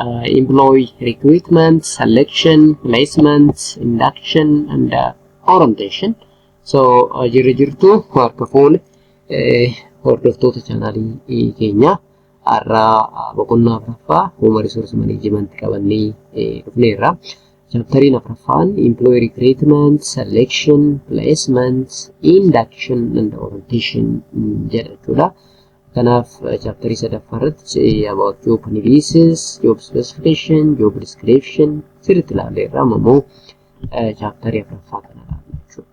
uh, employee recruitment, selection, placement, induction, and uh, orientation. So, uh, jirri jirtu harka fuune eh, hordoftoota chaanaalii keenya har'aa uh, boqonnaa afraffaa human resource management qabannee eh, dhufneerra. Chaaptariin afraffaan employee recruitment, selection, placement, induction, and orientation mm, jedha jechuudha. Kanaaf chaaptarii sadaffaa irratti about job analysis, job specification, job description sirriitti ilaalle irraa ammoo chaaptarii afraffaa kana ilaalle jechuudha.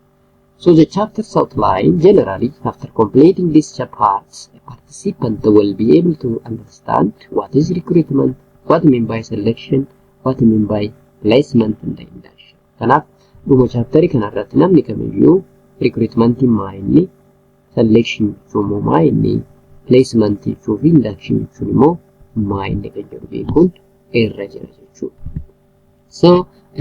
So the chapters outline generally after completing these parts a participant will be able to understand what is recruitment, what mean by selection, what mean by placement and induction. Kanaaf dhuma chaaptarii kana irratti namni kamiyyuu recruitmentiin maa inni selection jechuun immoo maa inni placement jechuu fi induction jechuun immoo maa inni kan jedhu beekuun irra jira jechuudha. So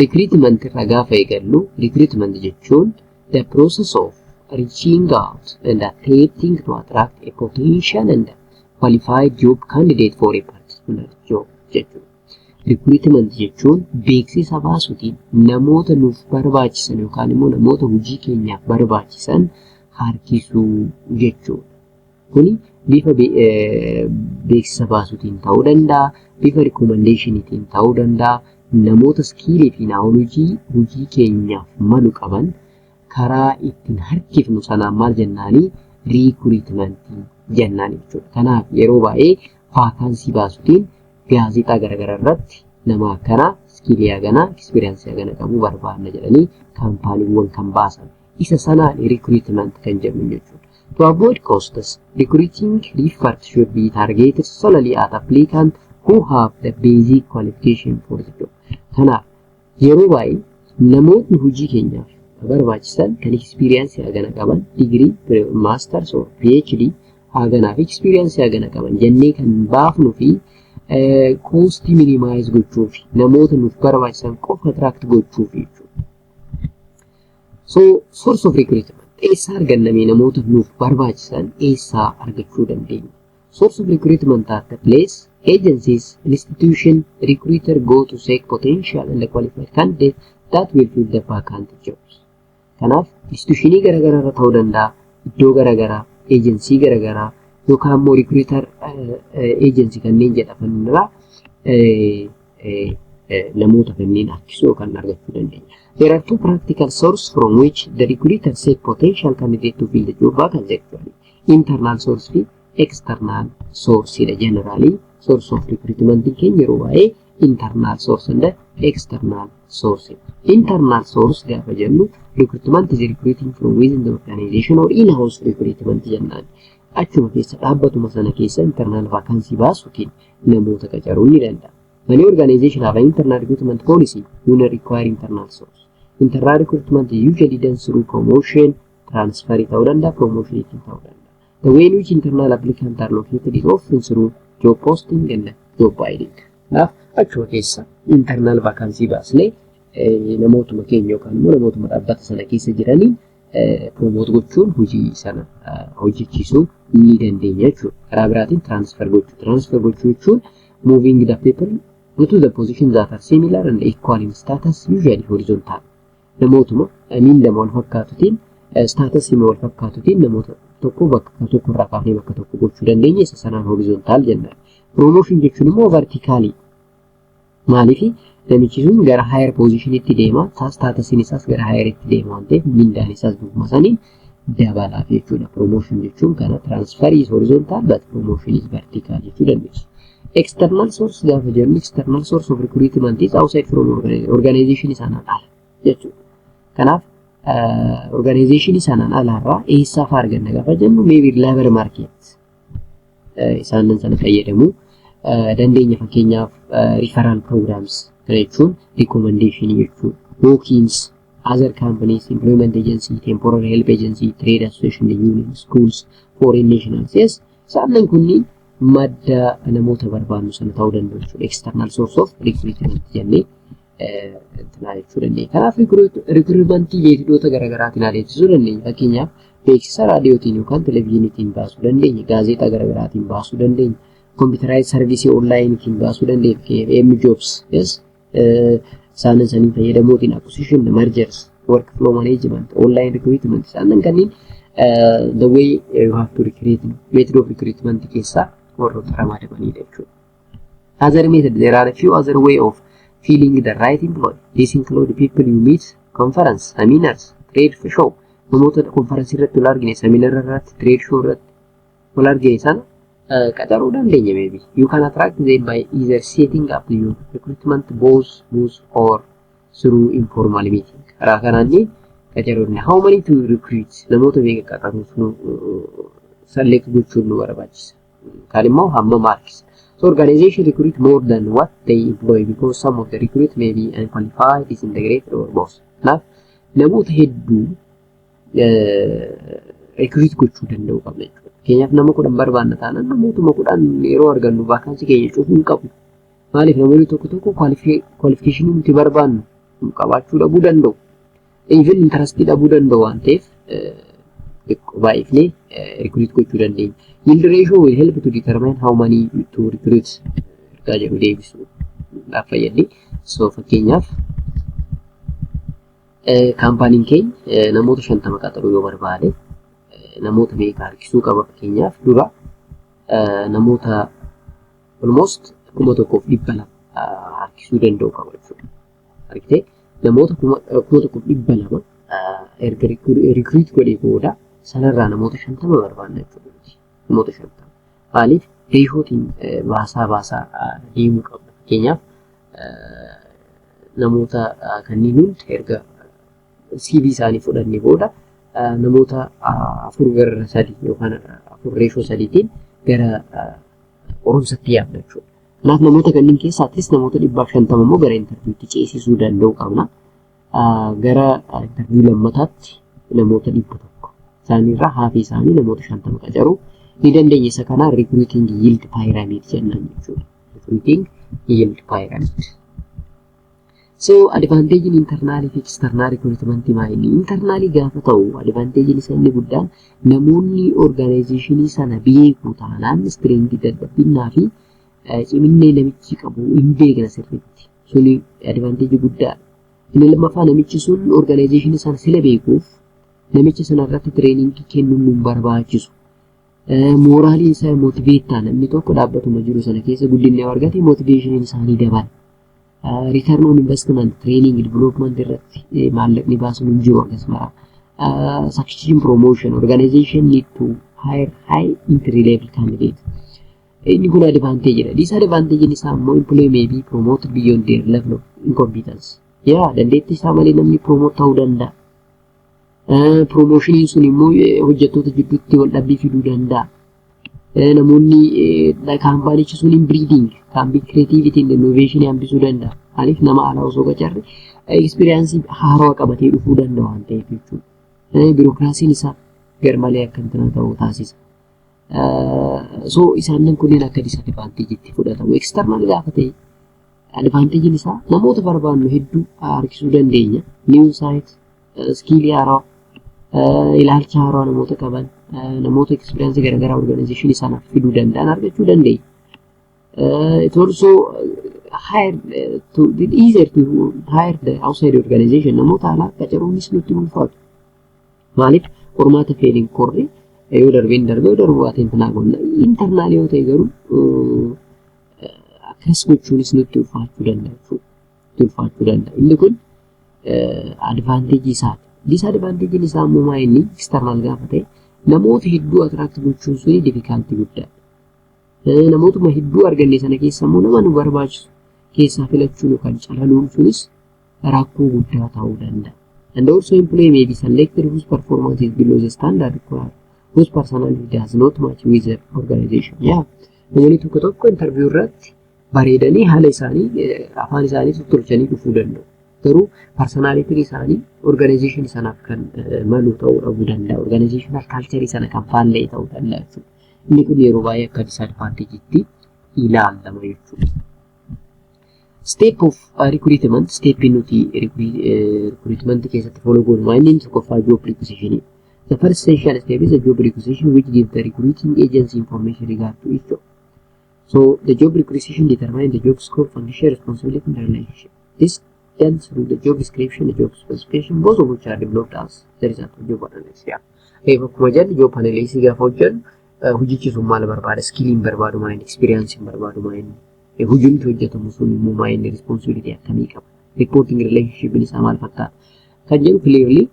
recruitment irraa gaafa eegallu recruitment jechuun the process of reaching out and attempting to attract a potential and qualified job candidate for a particular job jechuudha. Recruitment jechuun beeksisa baasuutiin namoota nuuf barbaachisan yookaan immoo namoota hojii keenyaaf barbaachisan harkisuu jechuudha. Kuni bifa beeksisa baasuutiin ta'uu danda'a, bifa rikoomandeeshiniitiin ta'uu danda'a, namoota iskiilii fi naawolojii hojii keenyaaf malu qaban karaa ittiin harkifnu sanaan maal jennaani riikuriitimantii jennaan jechuudha. Kanaaf yeroo baay'ee vaakaansii baasutiin gaazexaa garaagaraa irratti nama akkana iskiilii hagana ekspiriyaansii hagana qabu barbaanna jedhanii kaampaaniiwwan kan baasan. Isa sanaan riikuriitimant kan jedhu jechuudha. To avoid costs, recruiting effort should be targeted solely at applicants who have the basic qualification for the job. Kanaaf Yeroo baay'ee namootni hojii keenyaaf nu barbaachisan kan experience hagana qaban degree, masters or PhD haganaa fi experience hagana qaban jennee kan baafnu fi koostii minimize gochuu fi namoota nuuf barbaachisan qofa attract gochuu fi So source of recruitment eessaa argannamee namoota nuuf barbaachisan eessaa argachuu dandeenya? Source of recruitment at the place, agencies, institution, recruiter go to seek potential and qualified candidate that will fill the vacant jobs. Kanaaf institutionii garaagaraa irra ta'uu danda'a, iddoo garaagaraa, eejensii garaagaraa yookaan immoo recruiter eejensii kanneen jedhaman irraa namoota kanneen harkisuu yookaan argachuu dandeenya. There are two practical sources from which the recruiter seek potential candidate to fill the job vacancy actually. internal source fi external source dha generally source of recruitment keenya yeroo baay'ee internal source and external source internal source gaafa jennu recruitment is recruiting from within the organization or in house recruitment jennaan achuma keessa dhaabbatuma sana keessa internal vacancy baasuutiin namoota qacaruun ni danda'a many organization have an internal recruitment policy will require internal source internal recruitment is usually done through promotion transfer ta'uu danda'a, promotion ittiin ta'uu danda'a. The way in which internal applicant are located is often through job posting and job bidding. Kanaaf achuma keessa internal vacancy baasnee namootuma keenya yookaan immoo namootuma dhaabbata sana keessa jiraniin promote gochuun hojii sana hojjechiisuu ni dandeenya jechuudha. Karaa biraatiin transfer gochuu. Transfer gochuu jechuun moving the people to the position that are similar and equal in status usually horizontal. namootuma miindama wal fakkaatutiin istaatasiima wal fakkaatutiin namoota tokko bakka tokko irraa kaafee bakka tokko gochuu dandeenya isa sanaan horizontaal jennaan. Promotion jechuun immoo vertikaalii. Maaliif namichi sun gara higher position itti deema, staatusiin isaas gara higher itti deema waan ta'eef mindaan isaas dubbuma saniin dabalaaf jechuudha. Promotion jechuun kana transfer is horizontal but promotion is vertical jechuu dandeessu. External source gaafa jennu external source of recruitment is outside from organization sanaan ala jechuudha. Kanaaf organization sanaan alaarraa eessaaf arganna gaafa jennu maybe labor market isaanan sana fayyadamu dandeenya fakkeenyaaf referral programs jechuun recommendation jechuun bookings other companies employment agency temporary help agency trade association union schools foreign nationals yes isaanan kunniin madda namoota barbaannu sana ta'uu danda'u jechuudha external source of recruitment jennee kanaa jechuu dandeenya. Kanaaf rikruutmentii beeksisoota garaagaraatiin adeemsisuu dandeenya. Fakkeenyaaf beeksisa raadiyootiin yookaan televezyiiniitiin baasuu dandeenya. Gaazexaa garaagaraatiin baasuu dandeenya. Kompiitaraayiz sarviisii onlaayiniitiin baasuu dandeenya. Fakkeenyaaf M jobs yes isaan saniin fayyadamuutiin acquisition mergers work flow management online recruitment isaan kanneen the way you have to recruit method of recruitment keessaa warroota ramadamaniidha jechuudha. Other method, there are few other way of feeling the right employ. This include people you meet, conference, seminars, trade show. Namoota konferansii irratti wal argine, seminara irratti, trade show irratti wal argine sana uh, qacaruu dandeenya maybe. You can attract them by either setting up your recruitment both both or through informal meeting. Karaa kanaan ni qacaruu dandeenya. How many to recruit? Namoota meeqa qacaruuf nu uh, select gochuun nu barbaachisa. Kan immoo hamma marks. So organization recruit more than what they employ because some of the recruit may be unqualified, disintegrated or both. Kanaaf namoota hedduu recruit gochuu danda'uu qabna jechuudha. Fakkeenyaaf nama kudhan barbaanna taanaan namootuma kudhan yeroo argannu vaakaansii keenya cufuu hin qabnu. Maaliif namoonni tokko tokko kwalifikeeshinii nuti barbaannu qabaachuu dhabuu danda'u. Even intarastii dhabuu danda'u waan ta'eef xiqqoo baay'ifnee recruit gochuu dandeenya. Yield ratio will help to determine how many to recruit ergaa jedhu deebisuudhaaf fayyaddi. So fakkeenyaaf kaampaaniin keenya namoota shantama qaxaruu yoo barbaade namoota meeqa harkisuu qaba fakkeenyaaf dura namoota almost kuma tokkoof dhibba lama harkisuu danda'u qaba jechuudha. argitee namoota kuma kuma tokko dhibba lama erga rikriit godhee booda sanarraa namoota shantama barbaanna jechuudha nuti namoota shantama maaliif reeshootiin baasaa baasaa deemuu qabna fakkeenyaaf namoota kanneen hundi erga CV isaanii fudhannee booda namoota afur gara sadii yookaan afur reeshoo sadiitiin gara qorumsatti yaadna jechuudha. Kanaaf namoota kanneen keessa atleast namoota dhibbaaf shantama immoo gara intarviiwutti ceesisuu danda'u qabna. Gara intarviiwuu lammataatti namoota dhibba tokko isaaniirraa haafii isaanii namoota shantama qacaruu ni dandeenya. Isa kana recruiting yield pyramid jennaan jechuudha. Recruiting yield pyramid. So advantage'n internaalii fi external recruitment maa inni internaalii gaafa ta'u advantage'n isa inni guddaan namoonni organizationii sana beeku taanaan strength dadhabbinnaa fi ciminni namichi qabu hin beekna sirriitti suni advantage guddaa inni lammaffaa namichi sun organizationii sana sila beekuuf namicha sana irratti training kennuun nu barbaachisu mooraaliin isaa motiveettaa namni tokko dhaabbatuma jiru sana keessa guddinni argate motiveeshiniin isaanii dabala. Return on investment, training, development irratti maallaqni baasuun hin jiru akkasuma. Substitution promotion, organization need to hire high entry level candidate. Inni kun advantage dha. Disadvantage isaa immoo employee may be promoted beyond their level of incompetence. Yaa dandeettii isaa malee namni promote ta'uu danda'a. Promotioniin sun immoo hojjettoota jidduutti wal dhabbii fiduu danda'a. namoonni kaampaanichi sun hin biriidiing kaampii kireetiivitiin innoveeshinii hambisuu danda'a. Maaliif nama alaa osoo qacarre ekspiriyaansii haarawaa qabatee dhufuu danda'a waan ta'eef jechuudha. Birookiraasiin isaa garmalee akka hin ta'u taasisa. So isaannan kunneen akka disadvaanteejiitti fudhatamu. Eksternaal gaafa ta'e advaanteejiin isaa namoota barbaannu hedduu harkisuu dandeenya. Niiw saayit iskiilii haaraa ilaalcha haaraa namoota qaban namoota ekspiriyaansii garaagaraa orgaanayizeeshinii sanaaf fiduu danda'an argachuu dandeenya. It also hired to it easier to hire the outside organization namoota alaa qacaruunis nutti ulfaatu. Maaliif qormaata feeliin korri yoo darbeen darbe yoo darbu baateen tanaa qonna intarnaal yoo ta'e garuu akkas gochuunis nutti ulfaachuu danda'a jechuudha. itti ulfaachuu danda'a. Inni kun advaanteejii isaati. Disadvaanteejiin isaa immoo maa inni external gaafa ta'e namoota hedduu atiraakti gochuun suni difikaaltii guddaadha. Namootuma hedduu arganne sana keessa immoo nama nu barbaachisu keessaa filachuun yookaan calaluun sunis rakkoo guddaa ta'uu danda'a. And also employee may be selected whose performance is below the standard required, whose personality does not match with the organization. Yeah. Namoonni tokko tokko interview irratti bareedanii haala isaanii afaan isaanii tolchanii dhufuu danda'u. Garuu parsonaalitiin isaanii organizeeshinii sanaaf kan malu ta'uu dhabuu danda'a. Organizeeshinal kaalcharii sana kan faallee ta'uu danda'a jechuudha. Inni kun yeroo baay'ee akka disaadvaanteejiitti ilaalama jechuudha. Step of recruitment, step nuti recruitment keessatti follow goonu maal inni tokkoffaa job requisition. The first essential step is a job requisition which gives the recruiting agency information regard to each job. So the job requisition determines the job scope, function, responsibility, and relationship. This done through the job description, the job specification, both of which are developed as the result of job analysis. Yeah. Reef akkuma jennu job analysis gaafa hojjennu hojichi sun maal barbaada, skilliin barbaadu maayini, experiencein barbaadu maayini, hojiin hojjetamu sun immoo maayini, responsibility akkamii qaba, reporting relationship isaa maal fakkaata. Kan jedhu clearly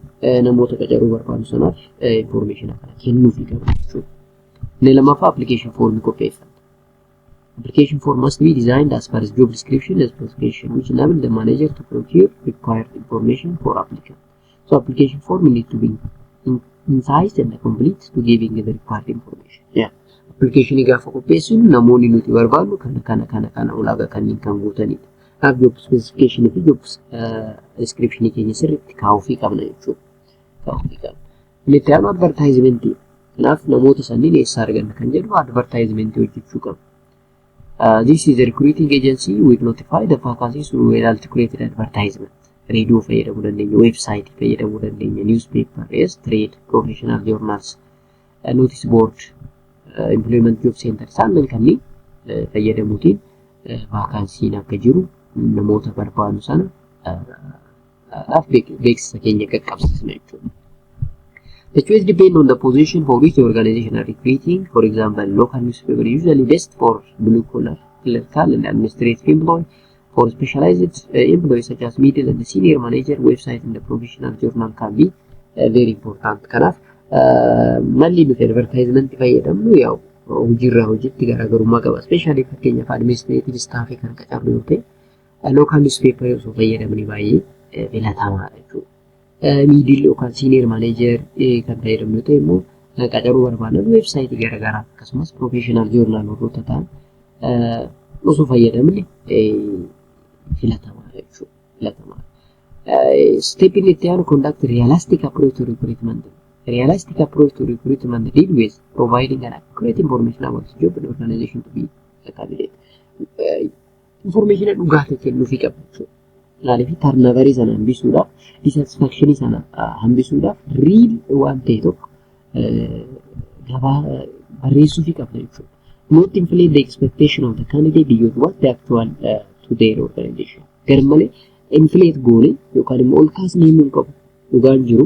namoota qacaruu barbaadu sanaaf information akkana kennuufi qaba jechuudha. Inni lammaffaa application form qopheessa. Application form must be designed as per its job description and specification which enable the manager to procure required information for applicant. So application form need to be in- incised and complete to giving the required information. Yeah. Application gaafa qopheessinu namoonni nuti barbaadnu kana kana kana kana ulaagaa kanneen kan guutanidha. Kanaaf job specification fi job uh, description keenya sirriitti kaa'uufii qabna jechuudha. Kaa'uufii qabna. Inni itti aanu advartaayizimentii. Kanaaf namoota sanniin eessaa arganna kan jedhu advartaayizimentii hojjechuu qabna. Uh, this is a recruiting agency will notify the vacancies through an articulated advertisement. Radio fayyadamuu dandeenya, website fayyadamuu dandeenya, newspaper, yes, trade, professional journals, uh, notice board, uh, employment job center isaannan kanneen uh, fayyadamuutiin uh, vaakaansiin akka jiru namoota barbaadu sana uh, dhaaf beeksisa keenya qaqqabsiisna jechuudha. The choice depend on the position for which the organization are recruiting. For example, local newspaper usually best for blue collar, clerical and administrative employee. For specialized uh, employees such as middle and senior manager, website and the professional journal can be uh, very important. Kanaaf uh, malli nuti advertisement fayyadamnu yaa'u hojiirraa hojiitti garaagarummaa qaba. Ispeeshaalii fakkeenyaaf administreetive istaafii kan qacarru yoo ta'e Local newspaper osoo fayyadamne baay'ee filatamaadha jechuudha. Miidil yookaan senior manager kan fayyadamnu yoo ta'e immoo qacaruu barbaadan weebsaayitii garaagaraa akkasumas professional journal warroota ta'an osoo fayyadamne filatamaadha jechuudha. Filatamaadha. Step inni itti aanu conduct realistic approach to recruitment. Realistic approach to recruitment deal with providing an accurate information about the job and organization to be a candidate. Infoormeeshina dhugaa ta'e kennuufii qaba jechuudha. Maaliif tarnavarii sana hambisuudhaaf, disaatisfaakshinii sana hambisuudhaaf riil waan ta'e tokko gabaa barreessuufii qabna jechuudha. Not inflate the expectation of the candidate beyond what the actual uh, to their organization. Garmalee inflate goone yookaan immoo ol kaasnee himuu hin qabu. Dhugaan jiru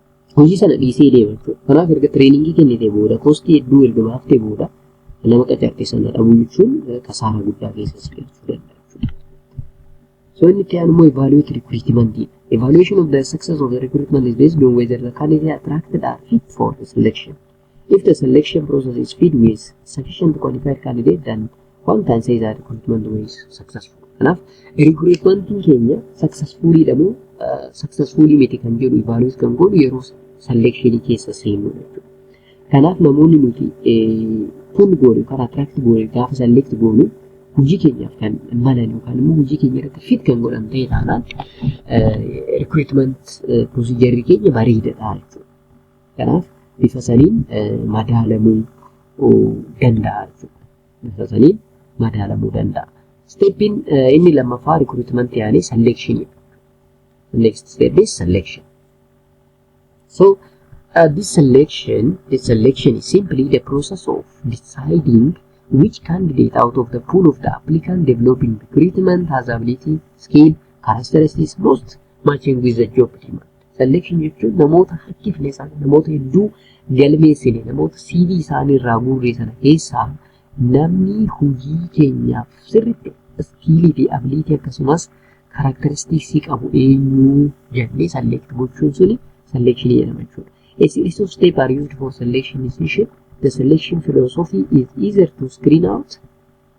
hojii sana dhiisee deema jechuudha. Kanaaf erga tireeningii kennitee booda koostii hedduu erga baaftee booda nama qacarte sana dhabuu jechuun kasaaraa guddaa keessa si galchuu danda'a jechuudha. So inni itti aanu immoo evaluate recruitment dha. Evaluation of the success of the recruitment is based on whether the candidate attracted are fit for the selection. If the selection process is feed with sufficient qualified candidate then one can say that recruitment was successful. Kanaaf recruitmentiin keenya successfully dha moo uh, successfully miti kan jedhu evaluate kan godhu yeroo selection keessa seennu jechuudha. Kanaaf namoonni nuti pull goone yookaan attract goone gaafa select goonu hojii keenyaaf kan malan yookaan immoo hojii keenya irratti fit kan godhan ta'e taanaan recruitment procedure keenya bareedadha jechuudha. Kanaaf bifa saniin madaalamuu danda'a jechuudha. Bifa saniin madaalamuu danda'a. Steppiin inni lammaffaa rikruutmentii yaanii selekshiniidha. Next step is selection. So uh, this selection, this selection is simply the process of deciding which candidate out of the pool of the applicant developing recruitment has ability, skill, characteristics most matching with the job demand. Selection jechuun namoota harkifne isaanii namoota hedduu galmeessine namoota CV isaanii irraa guurree sana keessaa namni hojii keenyaaf sirriitti iskiilii fi abiliitii akkasumas karakteristiksii qabu eenyuu jennee select gochuun suni selection jedhama jechuudha. A series of steps are used for selection decision. The selection philosophy is either to screen out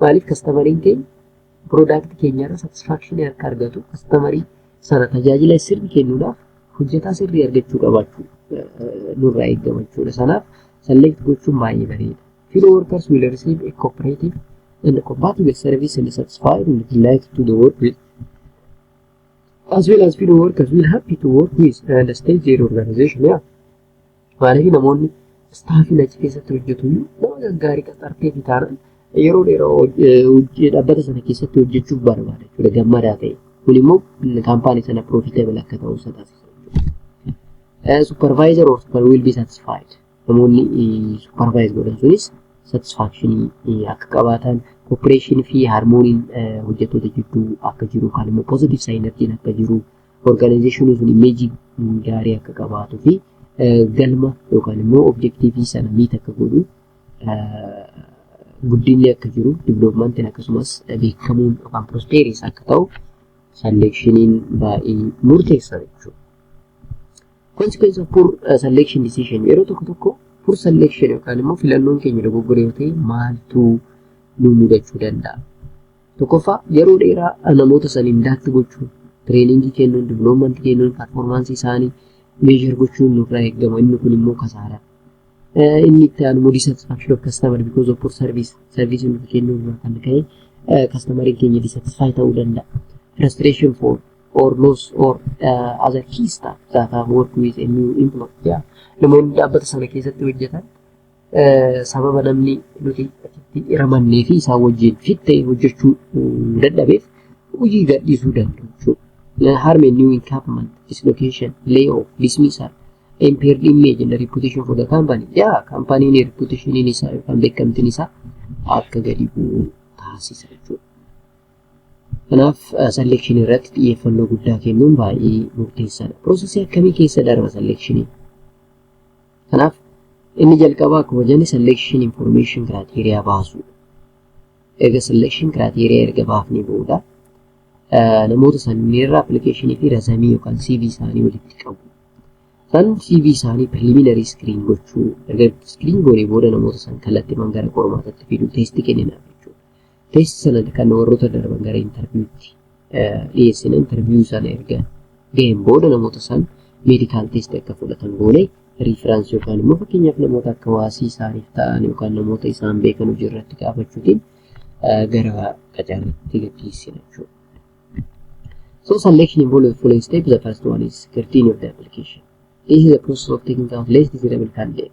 Maaliif kastamariin keenya piroodaaktii keenyarra satisfaakshinii akka argatu kastamarii sana tajaajila sirrii kennuudhaaf hojjetaa sirrii argachuu qabaachuu nurraa eegama jechuudha. Sanaaf select gochuun baay'ee bareeda. Fellow workers will receive a cooperative and compatible service and satisfied and delighted to the work with as well as fellow workers will happy to work with and stay their organization. Yeah. Maaliif namoonni istaafii achi keessatti hojjetu iyyuu nama gaggaarii qaxartee fi taanaan yeroo dheeraa hoj- eh, hojii- dhaabbata sana keessatti hojjechuuf barbaada jechuudha gammadaa ta'e. Kun immoo kaampaanii sana profitable akka ta'u isa taasisa jechuudha. Eh, Supervisor or super will be satisfied. Namoonni eh, supervise godhan sunis satisfaction eh, akka qabaatan cooperation fi harmooniin eh, hojjettoota jidduu akka jiru kan immoo positive synergy akka jiru Orgaanayizeeshiniin sun imeejii gaarii akka qabaatuu fi galma yookaan immoo objektiivii sana miit akka godhu guddinni akka jiru diviloopimantiin akkasumas beekamuun yookaan prospeeriis akka ta'u salleekshiniin baay'ee murteessa jechuudha. Consequence of poor uh, selection decision yeroo tokko tokko poor selection yookaan immoo filannoon keenya dogoggora yoo ta'e maaltu nu mudachuu danda'a? Tokkoffaa yeroo dheeraa namoota saniin daatti gochuun tireeningii kennuun diviloomanti kennuun parformaansii isaanii meeshar gochuun nurraa eegama inni kun immoo kasaaraa. Inni itti aanu immoo dissatisfaction of customer because of poor service service nuti kennuu irraa kan ka'e kastamariin keenya dissatisfy ta'uu danda'a. Frustration for or loss or uh, other key staff that have worked with a new employee. Yeah. Namoonni dhaabbata sana keessatti hojjetan sababa namni nuti asitti hiramannee fi isaan wajjin fit ta'e hojjechuu dadhabeef hojii gadhiisuu danda'u jechuudha. Harmeen new encampment, dislocation, layoff, dismissal, impaired image and reputation for the company. Yaa kaampaaniin reputationiin isaa yookaan beekamtiin isaa akka gadi bu'u taasisa jechuudha. Kanaaf selection irratti xiyyeeffannoo guddaa kennuun baay'ee murteessaadha. Piroosesii akkamii keessa darba selection? Kanaaf inni jalqabaa akkuma jenne selection information criteria baasuudha. Erga selection criteria erga baafnee booda namoota sanniirra application fi razamii yookaan CV isaanii walitti qabu. San CV isaanii preliminary screen gochuu erga screen goonee booda namoota san kallattiman gara qormaatatti fiduu teestii kenninaa jechuudha. Test sanad kan warroota darban gara interviewtti dhiyeessina interview sana erga ga'een booda namoota san medical test akka fudhatan goone reference yookaan immoo fakkeenyaaf namoota akka waasii isaaniif ta'an yookaan namoota isaan beekan hojii irratti gaafachuutiin gara qacarriitti gaggeessina jechuudha. So selection involved with following step. The first one is scrutiny of the application. This is a process of taking out less desirable candidate.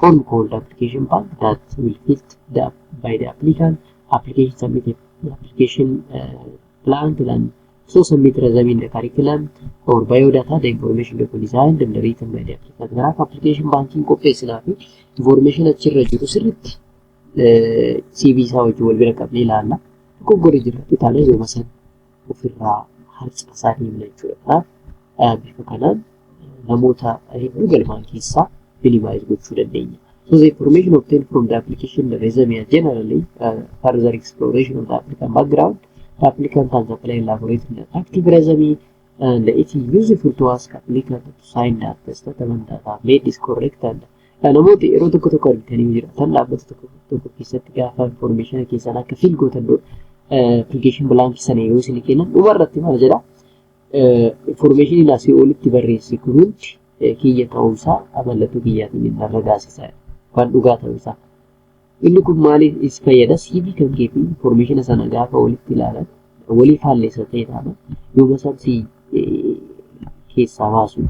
form called application pack that will fit the, by the applicant application submitted the application uh, plan plan so submit resume in the curriculum or biodata the information document design and the written by the applicant kanaaf application banking qopheessinaa fi information achirra jiru sirritti CV isaa wajjin wal bira qabnee ilaalla dogoggora jirratti taanee yooma sana ofirraa harcaasaa deemna jechuudha. Kanaaf eh, bifa kanaan eh, namoota hedduu galmaan keessaa minimize gochuu dandeenya. So the information obtained from the application resume are generally uh, further exploration of the applicant background. The applicant has applied elaborately an active resume and it is useful to ask applicant to sign the attestation that have made is correct and Namoota yeroo tokko tokko argitanii jirtan dhaabbata tokko tokko keessatti gaafa information keessan akka fill gootan dura application blank sana yoo isin kennan dhuma irratti maal jedha information asii olitti barreesse kun hundi kiyya ta'uusaa mallattoo kiyyaatiin inni irra gaasisa waan dhugaa ta'uusaa. Inni kun maaliif is fayyada CV kan kee fi information sana gaafa walitti ilaalan walii faalleessa ta'e taana yoo basaan si keessaa baasu.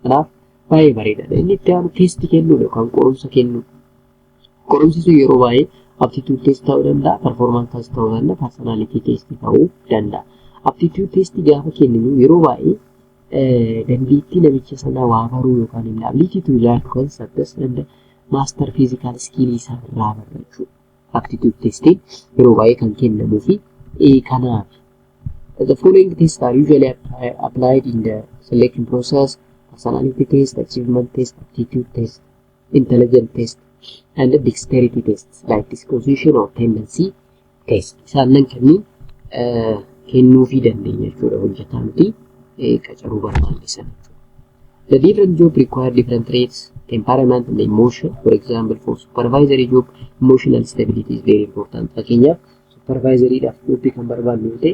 Kanaaf Baay'ee bareedaadha. Inni itti aanu teestii kennuudha yookaan qorumsa kennuu. Qorumsi sun yeroo baay'ee aptitude test ta'uu danda'a, performance test ta'uu danda'a, personality test ta'uu danda'a. Aptitude test gaafa kenninu yeroo baay'ee dandeettii namicha sanaa waa baruu yookaan immoo ability to learn concepts and master physical skill isaa irraa barachuu. aptitude testiin yeroo baay'ee kan kennamuu fi kanaaf the following tests are usually applied in the selection process personality test achievement test aptitude test intelligent test and dexterity test like disposition or tendency test isaannan kenniin kennuufii dandeenya jechuudha hojjetaa nuti qacaruu barbaanne sana The different job require different traits, temperament and emotion. For example, for supervisory job, emotional stability is very important. Fakkeenyaaf, supervisory dhaaf jobbi kan barbaannu yoo ta'e,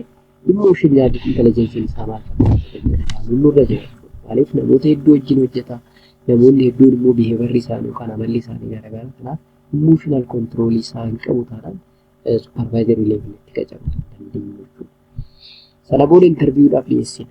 emotional intelligence isaa maal fakkaatu nurra jira. Maaliif namoota hedduu wajjin hojjeta, namoonni hedduun immoo behavior isaanii yookaan amalli isaanii garaagara. Kanaaf emotional control isaa hin qabu taanaan supervisory level itti qacaru dandeenya jechuudha. Sana booda interview dhaaf dhiyeessina.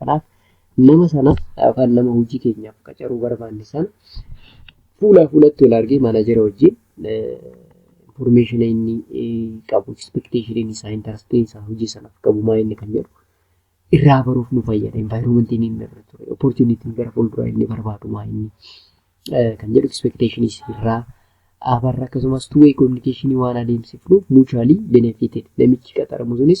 Kanaaf nama sana yookaan nama hojii keenyaaf qacaruu barbaanne sana fuulaa fuulatti wal argee maanajera wajjin information inni qabu, expectation inni isaa, interest isaa hojii sanaaf qabu maa inni kan jedhu irraa baruuf nu fayyada. Environment inni inni irra ture, opportunity gara fuulduraa inni barbaadu maa inni kan jedhu expectation irraa abarra akkasumas two way communication waan adeemsifnu mutually benefited namichi qaxaramu sunis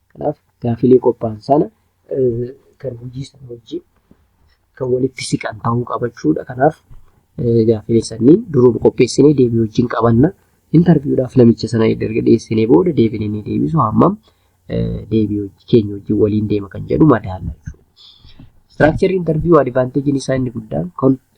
Kanaaf gaafilee qophaa'an sana kan hojii sana wajjin kan walitti siqan ta'uu qaba jechuudha. Kanaaf gaafilee sanniin duruma qopheessinee deebii wajjin qabanna. Intarviidhaaf namicha sana erga dhiyeessinee booda deebiin inni deebisu hammam deebii keenya wajjin waliin deema kan jedhu madaalla jechuudha. Istiraakcharri intarviiyuu adivaanteejiin isaa inni guddaan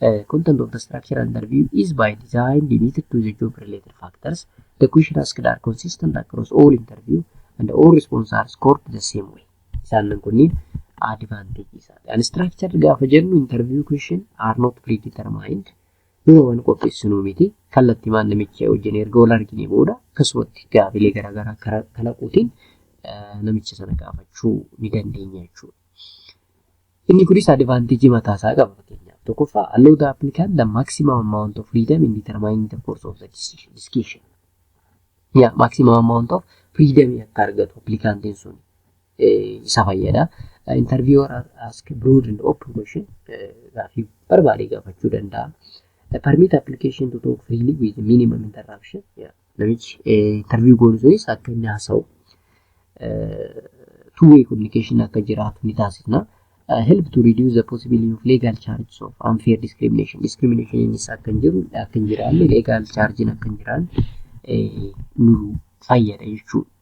Uh, content of the structure under view is by design limited to the job related factors. The question asked are consistent across all interview and all response are scored the same way. Isaan kunniin advantage isaati. Unstructured gaafa jennu interview question are not predetermined. Dura waan qopheessinu miti. Kallattii maal namicha wajjin erga wal argine booda akkasumatti gaafilee garaagaraa kara- kalaquutiin uh, namicha sana gaafachuu ni dandeenya jechuudha. Inni kunis advantage mataa isaa qaba fakkeenyaaf tokkoffaa allow the applicant the maximum amount of freedom in determining the course of the decision discussion ya maximum amount of freedom akka argatu applicantiin sun isa fayyada interviewer ask broad and open question gaafii barbaade gaafachuu danda'a permit application to talk freely with minimum interruption ya namichi interview goonu sunis akka inni haasa'u two way communication akka jiraatu ni taasisna. help to reduce the possibility of legal charges of unfair discrimination. Discrimination innis akka hin jiru akka hin jiraanne legal charges akka hin jiraanne nu fayyada jechuudha.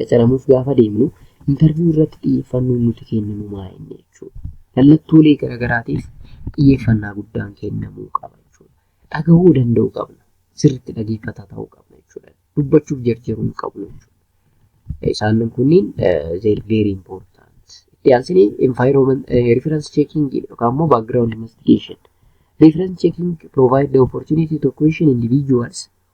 qacaramuuf gaafa deemnu intarviyu irratti xiyyeeffannoon nuti kenninu maa inni jechuudha. Mallattoolee garaagaraatiif xiyyeeffannaa guddaan kennamuu qaba jechuudha. Dhagahuu danda'uu qabna. Sirriitti dhageeffataa ta'uu qabna jechuudha. Dubbachuuf jarjaruu hin qabnu jechuudha. Isaan kunniin they are very important. Itti aansinee environment reference checking yookaan immoo background investigation. Reference checking provide the opportunity to question individuals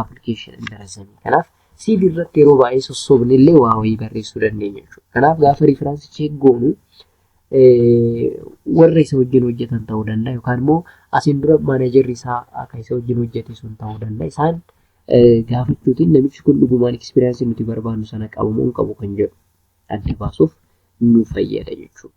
application under assign kanaaf CV irratti yeroo baay'ee sossobne illee waa wayii barreessuu dandeenya jechuudha. Kanaaf gaafa riifiraansi cheek goonu warra isa wajjin hojjetan ta'uu danda'a yookaan immoo asiin dura maanajarri isaa akka isa wajjin hojjete sun ta'uu danda'a. Isaan gaafachuutiin namichi kun dhugumaan ekspiriyaansii nuti barbaannu sana qabu moo hin qabu kan jedhu adda baasuuf nu fayyada jechuudha.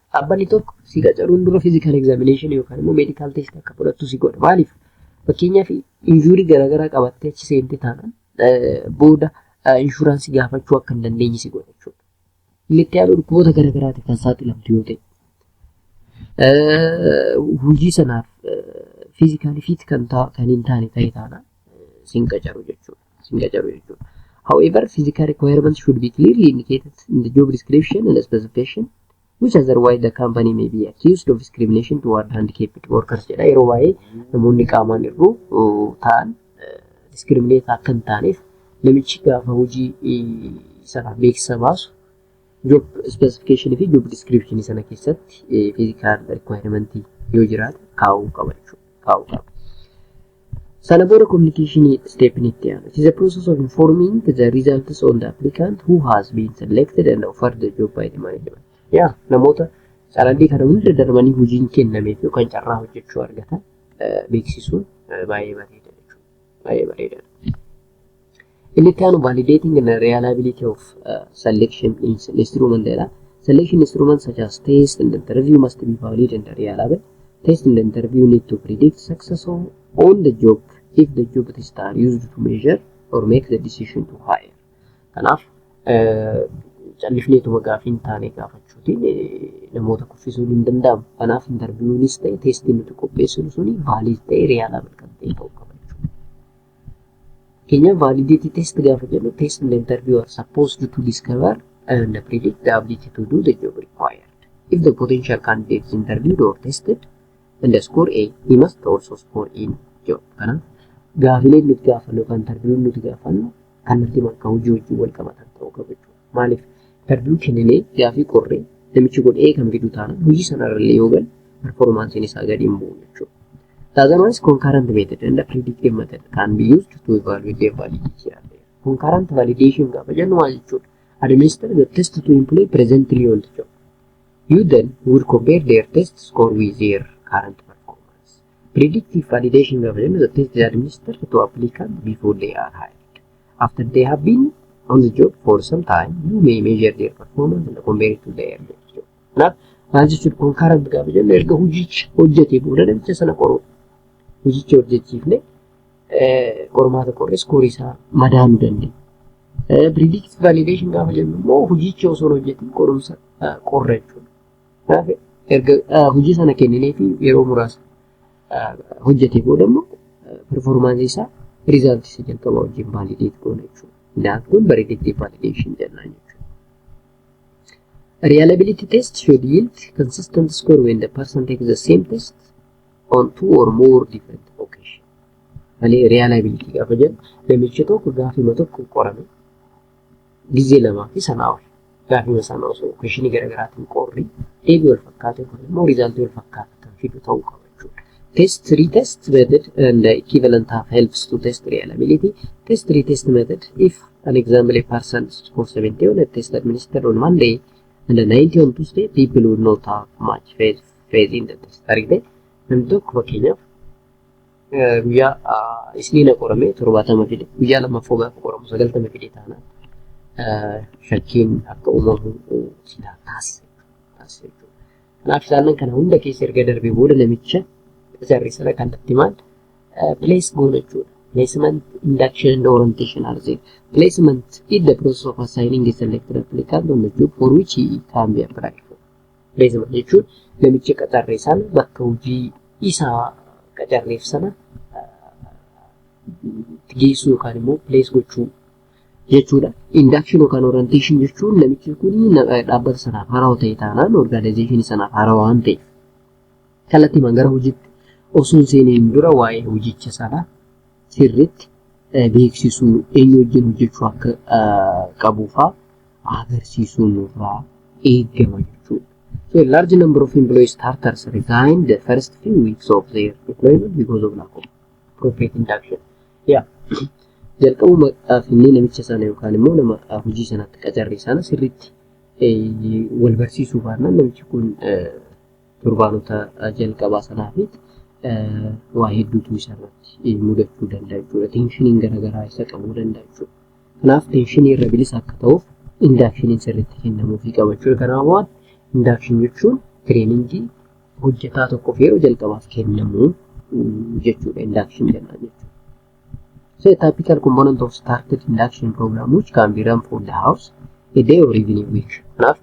Dhaabbanni tokko si qacaruun dura physical examination yookaan immoo medical test akka fudhattu si godha. Maaliif? Fakkeenyaaf injuurii garaagaraa qabattee achi seentee taanaan booda inshuraansii gaafachuu akka hin dandeenye si godha jechuudha. Inni itti aanu dhukkuboota garaagaraatiif kan saaxilamtu yoo ta'e. Hojii sanaaf fiizikaalii fiit kan hin taane ta'e taanaan sin qacaru jechuudha. isin qacaru jechuudha. However, physical requirements should be clearly indicated in the job description and specification, which otherwise the company may be accused of discrimination toward handicapped workers jedha. Yeroo baay'ee namoonni qaamaan irru ta'an discriminate akka hin taaneef namichi gaafa hojii sana beeksisa baasu job specification fi job description sana keessatti physical requirement yoo jiraate kaa'uu qaba jechuudha. Kaa'uu qaba. Sana booda communication step ni itti aanu. It is a process of informing the results on the applicant who has been selected and offered the job by the management. Yaa namoota carraddii kana hunda darbanii hojiin kennameef yookaan carraa hojjechuu argatan beeksisuun baay'ee bareeda jechuudha. Baay'ee bareedaadha. Inni itti aanu validating and reliability of uh, selection is instrument jedha. Selection instrument such as test and interview must be valid and reliable. Test and interview need to predict success of on the job if the job tests are used to measure or make the decision to hire. Kanaaf callifneetuma gaafii hin taane gaafachuutiin namoota kuffisuun hin danda'amu. Kanaaf interviewuunis ta'e teestiin nuti qopheessinu suni vaalid ta'e riyaalaabal kan ta'e ta'uu qaba. Keenya validated test gaafa jennu test and interview are supposed to discover and predict the ability to do the job required. If the potential candidate is interviewed or tested and the score A, he must also score in job. Kanaaf gaafileen nuti gaafannu yookaan interview'n nuti gaafannu kallattii bakka hojii wajjin wal qabatan ta'uu qaba jechuudha. Maaliif interviyuu kenninee gaafii qorree namichi kun ee kan fidu taana hojii sanarrallee yoo galu performaansiin isaa gadi hin bu'u jechuudha. Taazamanis concurrent method and predictive method can be used to evaluate the validity of the concurrent validation gaafa jennu maal jechuudha? Administer the test to employ presently on the job. You then will compare their test score with their current performance. Predictive validation gaafa jennu the test is administered to applicant before they are hired. After they have been on the job for some time, you may measure their performance and compare it to their job. Kanaaf maal jechuudha concurrent gaafa jennu erga hojicha hojjetee booda namicha sana qoruu. Hojicha hojjechiifne qormaata qorree iskoorii isaa madaaluu dandeenya. Predictive validation gaafa jennu immoo hojicha osoo hin hojjetin qorumsa qorra jechuudha. Kanaaf erga hojii sana kenninee fi yeroo muraasa hojjetee booda immoo performaansii isaa riizaaltii isa jalqabaa wajjin vaalideet goona jechuudha. Daat kun bareedettii vaalideeshin jennaan jechuudha. Reliability test should yield consistent score when the person takes the same test on two or more different occasions. Malee reliability gaafa jennu namichi tokko gaafima tokko qorame Gizee lamaa fi sanaa ol gaafima sana osoo kweshinii garaagaraatiin qorri deebii wal fakkaatu yookaan immoo riizaaltii wal fakkaatu kan fidu ta'uu qaba jechuudha. Test retest method and equivalent have helps to test reliability. Test retest method if an example a person score 70 on a test administered on Monday and a 90 on Tuesday people would not have much faith, faith in the test. Argite namni tokko fakkeenyaaf guyyaa isniina qorame torbaatama fide guyyaa lammaffoo gaafa qoramu sagaltama fide taana shakkiin akka uumamu silaa taasisa taasisa jechuudha. Kanaaf isaanan kana hunda keessa erga darbee booda namicha jarri sana kallattii maal place goona jechuudha. Placement induction and orientation are there. Placement is the process of assigning a selected applicant on the job for which he can be applied for. Reezima jechuun namicha qacarree sana bakka hojii isaa qacarreef sana geessuu yookaan immoo pilees gochuu jechuudha. Induction yookaan orientation jechuun namichi kun dhaabbata sanaaf haarawaa ta'e taanaan orgaanayizeeshinii sanaaf haarawaa waan ta'eef kallattiimaan gara hojiitti osoo hin seeniin dura waa'ee hojicha sanaa sirriitti beeksisuu eenyu wajjin hojjechuu akka qabuufaa agarsiisuu nurraa eegama jechuudha. So a large number of employee starters resign the first few weeks of their employment because of lack of profit induction. Yeah. Jalqabuma finnee namicha sana yookaan immoo nama hojii sanatti qacarre sana sirriitti wal barsiisuu baannaan namichi kun torbaanota jalqabaa sanaafis waa hedduutu isa irratti mudachuu danda'a jechuudha. Teenshiniin garaagaraa isa qabuu danda'a jechuudha. Kanaaf teenshinii irra bilisa akka ta'uuf indaakshiniin sirriitti kennamuufii qaba jechuudha. Kanaaf waan indaakshinii jechuun tireeningii hojjetaa tokkoof yeroo jalqabaaf kennamu jechuudha indaakshin jennaan jechuudha. So a typical component of started induction program which can be run for the house a day or even a week. Kanaaf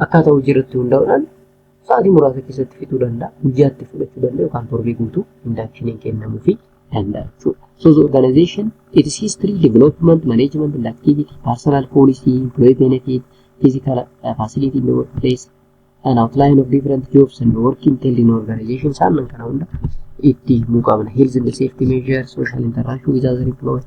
Akkaataa hojii irratti hundaa'uudhaan sa'aatii muraasa keessatti fixuu danda'a. Guyyaatti fudhachuu danda'a yookaan torbee guutuu indaakshiniin kennamuufi danda'a jechuudha. So the organization, its history, development, management and activity, personal policy, employee benefit, physical uh, facility in the workplace, an outline of different jobs and work entailed in organization isaan kana hunda itti himuu qabna. Health and safety measures, social interaction with other employees,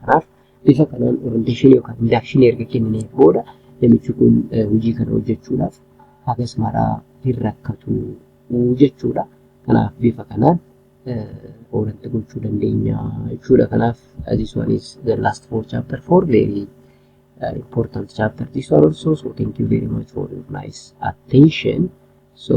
Kanaaf bifa kanaan orienteeshinii yookaan indaakshinii erga kennineef booda namichi kun hojii kana hojjechuudhaaf hagas maraa hin rakkatu jechuudha. Kanaaf bifa kanaan oolatti gochuu dandeenya jechuudha. Kanaaf this one is the last for chapter 4 very uh, important chapter this one also so thank you very much for your nice attention so